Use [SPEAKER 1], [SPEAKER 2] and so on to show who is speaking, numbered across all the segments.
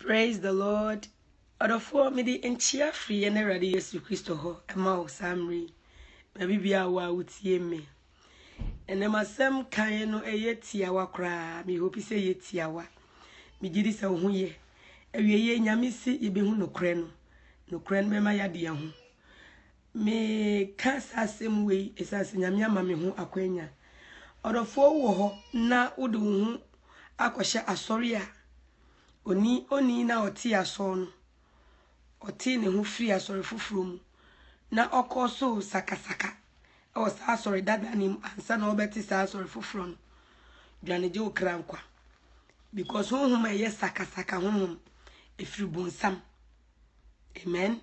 [SPEAKER 1] Praise the Lord. Ɔdɔfoɔ mede nkyia firi yɛn Awurade Yesu Kristo hɔ ɛma wo saa mmere yi. Baabi biara wɔ a wotie me. Ɛnɛ m'asɛm kan no ɛyɛ tiawa koraa. Me hope sɛ ɛyɛ tiawa. Megye di sɛ wo ho yɛ. Awieeɛ Nyame se yɛbɛhu nokorɛ no. Nokorɛ no bɛma yɛade yɛn ho. Meka saa asɛm wei ɛsiane sɛ Nyame ama me ho akwanya. Ɔdɔfoɔ wowɔ hɔ na wode wo ho akɔhyɛ asɔre a oni onii na ɔtee asɔɔ no, ɔtee ne ho firi asɔre foforɔ mu na ɔkɔɔ so sakasaka ɛwɔ saa asɔre dada no mu ansa na ɔbɛte saa asɔre foforɔ no, dwane gye wo kra nkwa. Because honhom a ɛyɛ sakasaka honhom ɛfiri bonsam. Amen.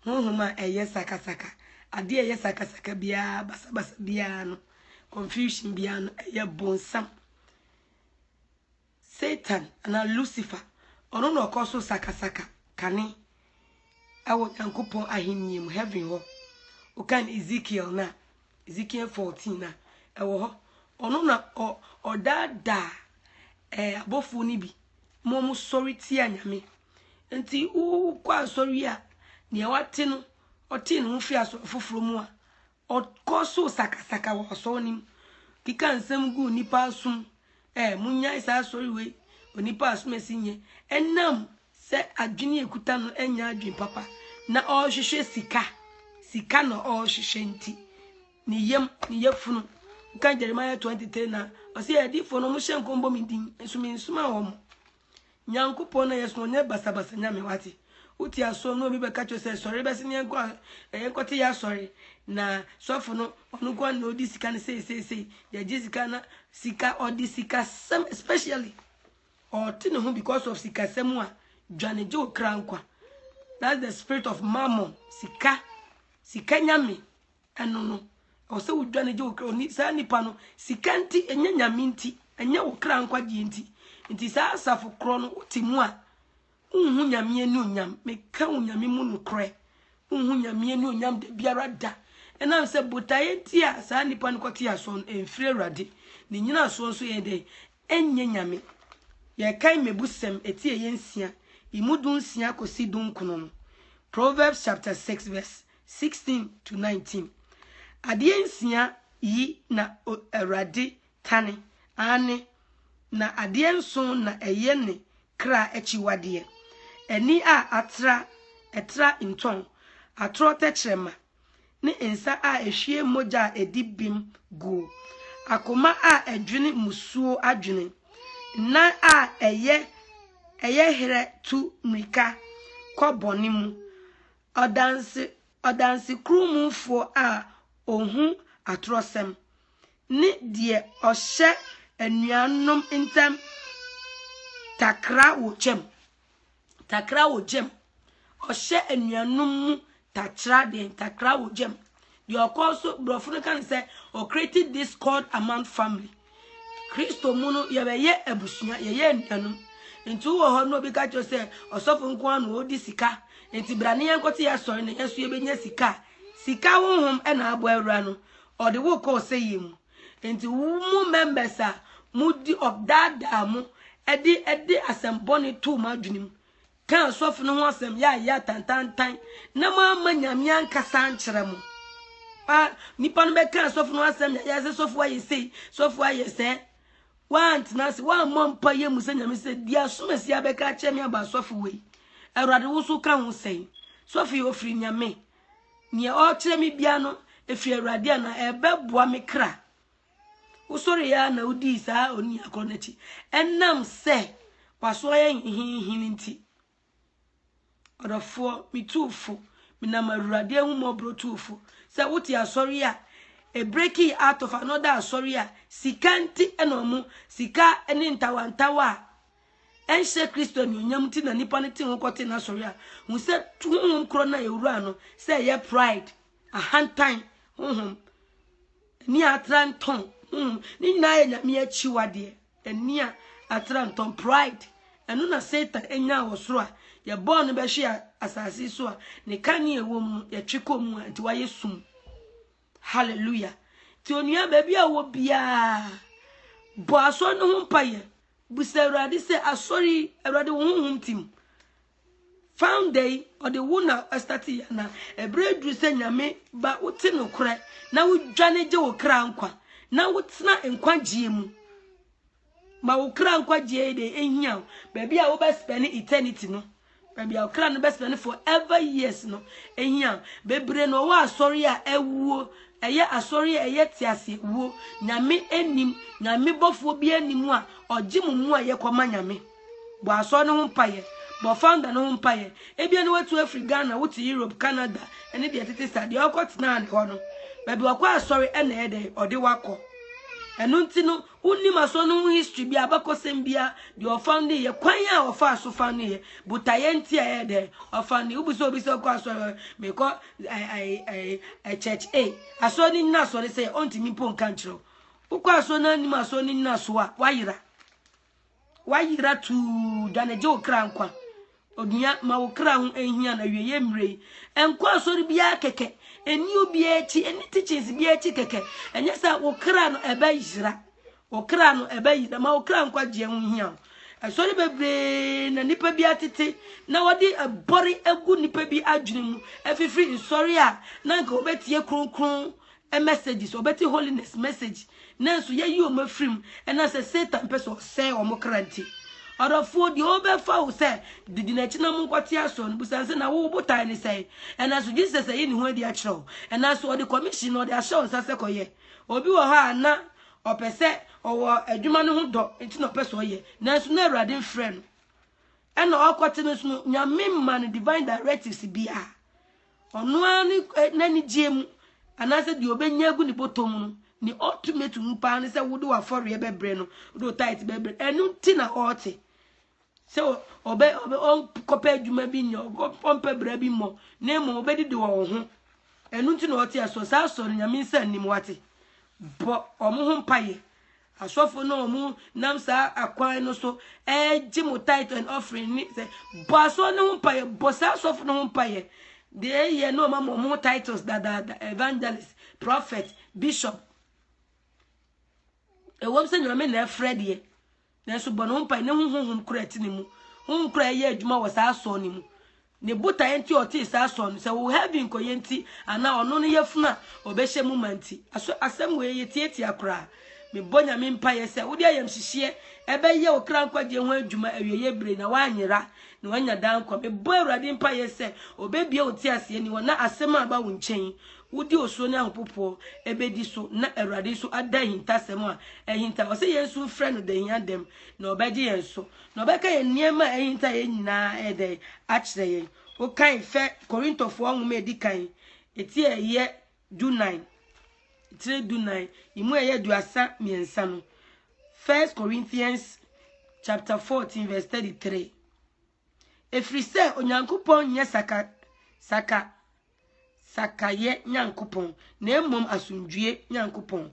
[SPEAKER 1] honhom a ɛyɛ sakasaka, ade a ɛyɛ sakasaka biara, basabasa biara no, confusion biara no, ɛyɛ bonsam. Satan anaa Lucifer, ɔno na ɔkɔ so sakasaka kane ɛwɔ Nyankopɔn ahenni mu, heaven hɔ. Wokan Ezekiel no a, Ezekiel fourteen a ɛwɔ hɔ, ɔno na ɔ ɔdaadaa ɛɛ abɔfoɔ no bi ma wɔn sɔre tia nyame. Nti wokɔ asɔre yi a, nea wate no, ɔtee ne ho fi asɔre foforɔ mu a, ɔkɔ so sakasaka wɔ asɔre no mu, keka nsɛm gu nnipa asom, Eh, monnyae saa asɔre wei, onipa a asomasi nyɛ. Ɛnam sɛ adwene a ɛkuta no nyɛ adwene papa, na ɔrehwehwɛ sika, sika na ɔrehwehwɛ nti, ne yam, ne yafunu. Woka Jeremiah 23 na ɔsɛ adiifoɔ no, wɔhyɛ nkɔm bɔ me din, nso mensoma wɔn. Nyankopɔn na yɛsom no, ɔnyɛ basabasa Nyame, wate? Wote asoɔ na obi bɛka kyerɛ wo sɛ, sɔre bɛse neɛ nkɔ a, yɛnkɔte y'asɔre, na sɔfo no, ɔno nkoa na odi sika no sei sei sei, yɛgye sika na, sika, ɔde sikasɛm, especially, ɔɔte ne ho because of sikasɛm a, dwane gye wo kra nkwa. That's the spirit of mammon, sika, sika Nyame. Ɛno no, ɛwɔ sɛ wodwane gye wo kra. Oni, saa nipa no, sika nti, ɛnyɛ nyame nti, ɛnyɛ wo kra nkwagyeɛ nti. Nti saa asafo korɔ no, wote mu a, wonhu nyame ani onyam. Meka wo nyame mu nokorɛ, wonhu nyame ani onyam da biara da. Ɛnam sɛ botaeɛ nti a saa nipa no kɔte asoɔ no, ɛmfiri Awurade. Ne nyinasoɔ nso yɛ dɛn? Ɛnyɛ nyame. Yɛkan mmebusɛm, ɛti ɛyɛ nsia, emu dunsia kɔsi dunkron no. Proverbs chapter 6 verse 16-19, Adeɛ nsia yi na Awurade tane, aane, na adeɛ nson na ɛyɛ ne kra akyiwadeɛ, ani a atra, ɛtra ntɔn, atorɔ tɛkyerɛma, ne nsa a ɛhwie mogya a ɛdi bem guo, akoma a ɛdwene mmusuo adwene, nan a ɛyɛ ɛyɛ herɛ tu mmirika kɔ bɔne mu, Ɔdanse, Ɔdansekurumfoɔ a ɔhu atorɔsɛm, ne deɛ ɔhyɛ anuanom ntam takra wɔ gyam. Takra wɔ gyam. Ɔhyɛ anuanom mu takyra deɛn? Takra wɔ gyam. Deɛ ɔkɔ so, borɔfo no ka no sɛ, ɔcreated discord among family. Kristo mu no, yɛbɛyɛ abusua, yɛyɛ anuanom. Nti wowɔ hɔ no obi ka kyerɛ sɛ, ɔsɔfo nko ara na ɔdi sika. Nti bra ne yɛn kɔte asɔre na yɛn so yɛbɛnya sika. Sika honhom na abɔ awura no, ɔde wo kɔ ɔsɛyɛ mu. Nti wo mu members a, mudi ɔdaadaa mo, ɛde ɛde asɛm bɔne too mo adwene mu. Ka sɔfo no ho asɛm yɛ ayɛ atantantan na moamma Nyame ankasa ankyerɛ mo. A nipa no bɛka sɔfo no ho asɛm yɛ ayɛ sɛ sɔfo ayɛ sei, sɔfo ayɛ sɛ. Woantena ase, woammɔ mpa yɛ mu sɛ Nyame sɛ di asomasi abɛka akyerɛ me aba sɔfo wei. Awurade wo so ka ho sɛn? Sɔfo yi ofiri Nyame. Nea ɔkyerɛ me bia no efiri Awurade a na ɛbɛboa me kra. Wosɔree ara na wodii saa onua korɔ no akyi. Ɛnam sɛ waso ayɛ nhenhenhen nti, ɔdɔfoɔ, me tuufo, menam Awurade ahummɔborɔ tuufo, sɛ wote asɔre a ɛbreki out of another asɔre a sika nti na ɔmo sika ne ntawantawa a ɛnhyɛ Kristo anuonyam nti na nipa no te ho kɔte n'asɔre a hu sɛ honhom korɔ no a ɛwura no sɛ ɛyɛ pride ahantan honhom Ani a atra ntɔn, hmm, ne nyinaa yɛ Nyame akyiwadeɛ. Ani a atra ntɔn, pride, ɛno na Satan nyaa wɔ soro a yɛbɔɔ no bɛhwee asase so a ne kanea a ɛwɔ mu no yɛtwe kɔ mu a nti wayɛ sum. Hallelujah. Nti onua baabi a wɔ biara bɔ asɔre no ho mpaeɛ. Busa Awurade sɛ asɔre yi Awurade wo honhom tim. Founder yi ɔde wo na ɛstate yɛ na ɛberɛ aduru sɛ nyame ba wote nokorɛ na wodwane gye wo kra nkwa na wotena nkwagyeɛ mu ma wo kra nkwagyeɛ yi de ɛhia wo baabi a wobɛspɛne eternity no baabi a ɔkra no bɛspɛne forever years no ɛhia wo bebree na ɔwɔ asɔre a ɛwuo ɛyɛ asɔre a ɛyɛ tease wuo nyame anim nyame bɔfoɔ bi anim a ɔgye mu mu a yɛkɔma nyame Bɔ asɔr no ho mpaeɛ. Bɔ founder no ho mpaeɛ. Ebia na watu afiri Ghana, wote Europe, Canada, ne deɛ ɛtete saa. Deɛ ɔkɔ tenaa ne hɔ no, baabi ɔkɔ asɔre na ɛyɛ dɛn, ɔde wakɔ. Ɛno nti no, wonim asɔre no ho history bi, abakɔsɛm bi a, deɛ ɔfounding yɛ, kwan a ɔfaa so founding yɛ, botaeɛ nti a ɛyɛ dɛn, ɔfounding. Wobisa obi sɛ ɔkɔ asɔre, mekɔ church A, asɔre no nyina soɔ ne sɛ, ɔntumi mpo nka nkyerɛ wo. Wokɔ asɔre no anim asɔre no nyina soɔ a, wayera. Wayera tuu, dwane gye wo kra nkwa. Onua, ma wo kra ho nhia na wie yɛ mmerɛ yi. Ɛnkɔ asɔre biara kɛkɛ, ɛni obiara akyi, ɛni teachings biara akyi kɛkɛ. Ɛnyɛ sɛ wo kra no ɛbɛyera, wo kra no ɛbɛyera, ma wo kra nkwa gyeɛ ho hia wo. Asɔre bebree na nipa bi atete na wɔde ɛbɔre agu nipa bi adwene mu afifiri nsɔre a na nka wɔbɛtie kronkron messages, ɔbɛte Holiness message, nanso yɛayi wɔn afiri mu, ɛna sɛ Satan pɛ sɛ ɔsɛe wɔn kra nti. Ɔdɔfoɔ, deɛ ɔbɛfa wo sɛ didi n'akyi na monkɔte asoɔ no, busa sɛ, na wo botae ne sɛn? Ɛna so Jesus ayi ne ho adi akyerɛ wo? Ɛna so ɔde commission na ɔde ahyɛ wo nsa sɛ kɔyɛ? Obi wɔ hɔ a na ɔpɛ sɛ ɔwɔ adwuma no ho dɔ nti na ɔpɛ sɛ ɔyɛ, nanso na Awurade mfrɛ no, ɛna ɔkɔte no nso no, Nyame mma no divine directives biara. Ɔno ara ne eh, n'anigyeɛ mu, anaasɛ deɛ ɔbɛnya agu ne bɔtɔ mu no, ne ultimate wu paa ne sɛ wode w'afɔreɛ bɛbrɛ no, wode wo tight bɛbrɛ. Ɛno nti na ɔte sɛ ɔbɛ ɔbɛ ɔnkɔpɛ adwuma bi nyɛ, ɔmpɛ bra bi mmɔ, na mmom ɔbɛdidi wɔ wo ho. Ɛno nti na ɔte asoɔ saa asɔre nyame nsa nnim wate. Bɔ ɔmo ho mpaeɛ. Asɔfo no a wɔnam saa akwan no so regye mo tithe and offering ne sɛ bɔ asɔre no ho mpaeɛ, bɔ saa asɔfo no ho mpaeɛ. Deɛ ɛyɛ na wɔma mo wɔn titles dadaada, evangelist, prophet, bishop. Ɛwom sɛ nyame na ɛfrɛ deɛ, nanso bɔ ne ho mpaeɛ ne ho honhom kora ti ne mu. Honhom kora ɛyɛ adwuma wɔ saa asɔre no mu. Ne botaeɛ nti a ɔtee saa sɔɔ no sɛ wo heaven kɔyɛ nti anaa ɔno no yafunu a ɔbɛhyɛ mu ma nti. Aso asɛm wei yɛ tiatia koraa? Mebɔ Nyame mpaeɛ sɛ wode ayamhyehyeɛ ɛbɛyɛ wo kra nkwagyeɛ ho adwuma awieeɛ berɛ yi na woanyera na woanya daa nkwa. Mebɔ Awurade mpaeɛ sɛ ɔbɛbue wo nteaseɛ ne wɔ na asɛm a aba wo nkyɛn yi wode osuro ne ahopopoɔ ɛbɛdi so na Awurade nso ada ahintasɛm a ahinta. Ɔse yɛn nso mfrɛ no da hia dɛm na ɔbɛgye yɛn so. Na ɔbɛka yɛn nneɛma a ahinta yɛn nyinaa ayɛ dɛn akyerɛ yɛn. Wokan fɛ Korintofoɔ nwoma a ɛdi kan, ɛti a ɛyɛ dunan, tire dunan, emu a ɛyɛ aduasa mmiɛnsa no. First Corinthians chapter 14 verse 33. Ɛfiri sɛ Onyankopɔn nyɛ saka saka. sakraeɛ Nyankopɔn, na mmom asomdwoeɛ Nyankopɔn.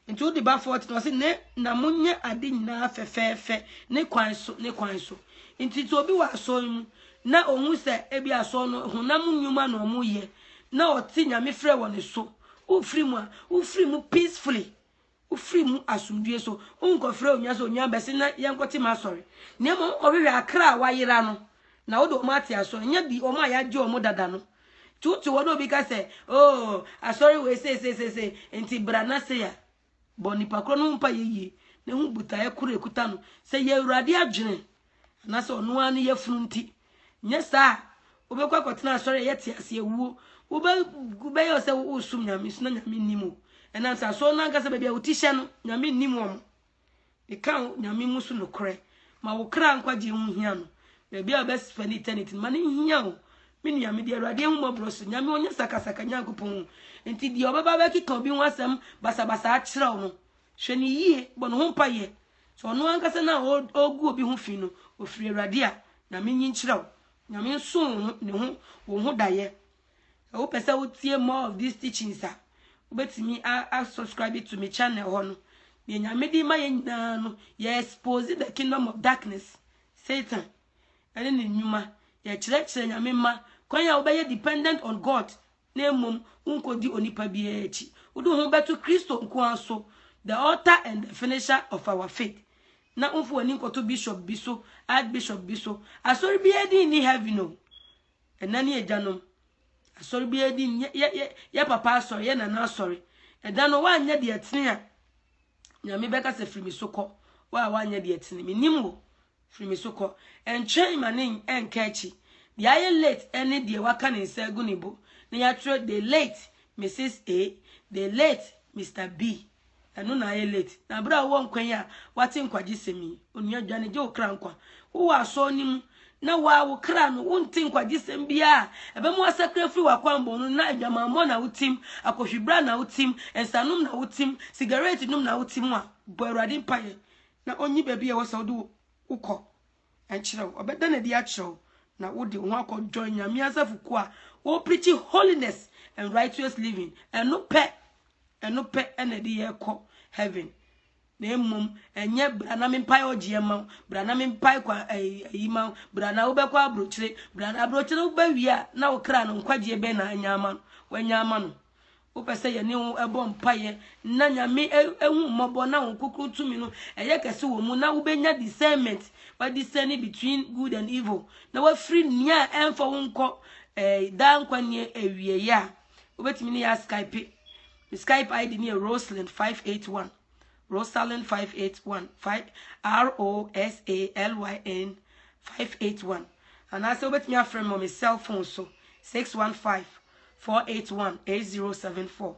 [SPEAKER 1] Nti wode ba 40 na ɔse ne na monyɛ ade nyinaa fɛfɛɛfɛ ne kwan so ne kwan so. Nti sɛ obi wɔ asɔre mu na ɔhu sɛ ebi asɔre no honam nnwuma na ɔmo yɛ na ɔte nyame frɛ wɔ ne so, wofiri mu a wofiri mu peacefully Wofiri mu asomdwoe so. Wonkɔfrɛ onua sɛ onua bɛse na yɛnkɔte m'asɔre. Na mmom wonkɔhwehwɛ akra a wɔayera no na wode wɔn ate asɔre. Nyɛ bi wɔn a yɛagye wɔn dada no. Nti wote hɔ na obi ka sɛ, oh, asɔre wei seiseisei, nti bra na sei a, bɔ nipa korɔ no ho mpaeɛ yie na hu botaeɛ korɔ a ɛkuta no. Sɛ ɛyɛ Awurade adwene Anaasɛ ɔno ara ne yafunu nti. Nyɛ saa a, wobɛkɔ akɔtena asɔre a ɛyɛ tease awuo. Wobɛ, wobɛyɛ sɛ wosom Nyame so na Nyame nnim o. Ɛnam sɛ asɔre no ankasa baabi a wo ti hyɛ no, Nyame nnim wɔn. Meka wo Nyame mu so nokorɛ. Ma wo kra nkwagyeɛ ho hia no. Baabi a wobɛspɛne eternity no, ma no nhia wo. Me nua, mede Awurade ahummɔborɔ so, Nyame ɔnyɛ sakasaka Nyankopɔn o. Enti deɛ ɔbɛba abɛkeka obi ho asɛm basabasa akyerɛ wo no, hwɛ no yie, bɔ ne ho mpaeɛ, So ɔno ankasa no a ɔregu obi ho fi no, ɔfiri Awurade a? Nyame nyi nkyerɛ wo. Nyame nso wo ho, ne ho, wo ho daeɛ. Sɛ wopɛ sɛ wotie more of these teachings a, wobɛtumi a, a subscribe to me channel hɔ no. Deɛ Nyame de ma yɛ nyinaa no, yɛ expose the kingdom of darkness, Satan, ɛne ne nnwuma. Yɛkyerɛkyerɛ Nyame mma kwan a wobɛyɛ dependent on God na mmom wonkodi onipa biara akyi. Wode wo ho bɛto Kristo nko ara so, the author and the finisher of our faith. Na womfa w'ani nkɔto bishop bi so, archbishop bi so. Asɔre biara din nni heaven o. Ɛna ne agyanom. Asɔre biara din yɛ yɛ yɛ yɛ papa asɔre, yɛ nana asɔre. Ɛda no woanyɛ deɛ ɛtene a, Nyame bɛka sɛ firi me so kɔ. Wo a woanyɛ deɛ ɛtene, menim wo. Firi me so kɔ. Ɛntwɛn ma ne ɛnka akyi. Deɛ ayɛ late ɛne deɛ waka ne nsa agu ne bo na yɛatwerɛ the late Mrs. A, the late Mister B. Ɛno na ayɛ late. Na berɛ a wowɔ nkwa yi a woate nkwagyesɛm yi, onua dwane gye wo kra nkwa. Wowɔ asɔre no mu na woa wo kra no, wonte nkwagyesɛm biara a ɛbɛma woasakra afiri w'akwammɔne no na adwamammɔ na wotim, akɔhwibra na wotim, nsanom na wotim, sigaret nom na wotim a, bɔ Awurade mpaeɛ na ɔnyi baabi a ɛwɔ sɛ wode wo kɔ nkyerɛ wo. Ɔbɛda no adi akyerɛ wo na wode wo ho akɔ join Nyame asafo kuo a wɔpreachi holiness and righteous living. Ɛno pɛ, ɛno pɛ na ɛde yɛ kɔ heaven. Na mmom ɛnyɛ bra na mempae ɔgyeɛ ma wo, bra na mempae kwa ayi ma wo, bra na wobɛkɔ abrokyere, bra na abrokyere wobɛwie a na wo kra no nkwagyeɛ bɛn na anya ama no, wanya ama no. Wopɛ sɛ yɛne wo bɔ mpaeɛ na Nyame ahu mmɔbɔ na wo kokro tumi no ɛyɛ kɛse wɔ mu na wobɛnya discernment wa discern between good and evil na wafiri nea ɛmfa wo nkɔ eh, daa nkwa nneɛ awieɛ a wobɛtumi ne yɛ askype me skype id ne yɛ rosalind 581 rosalind 581 r-o-s-a-l-y-n 581 anaasɛ wobɛtumi afrɛ me wɔ me cell phone so 615 four eight one eight zero seven four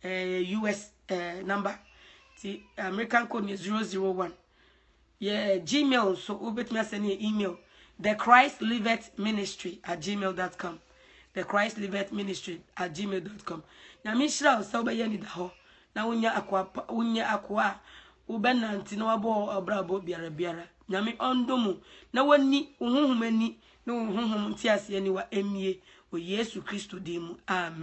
[SPEAKER 1] ɛyɛ eh, us ɛɛ eh, number ti american code yɛ zero zero one yɛ eh, gmail nso wobɛtumi asɛ ne yɛ email the christ livet ministry at gmail dot com the christ livet ministry at gmail dot com nyame nhyira wo sɛ wobɛyɛ anida hɔ na wonya akoa wonya akoa a wobɛnante na wabɔ ɔbrabɔ biara biara nyame ɔndɔ mu na wani wo honhom ani Ne wo honhom ntease aniwa mmue, wɔ Yesu Kristo din mu, amen.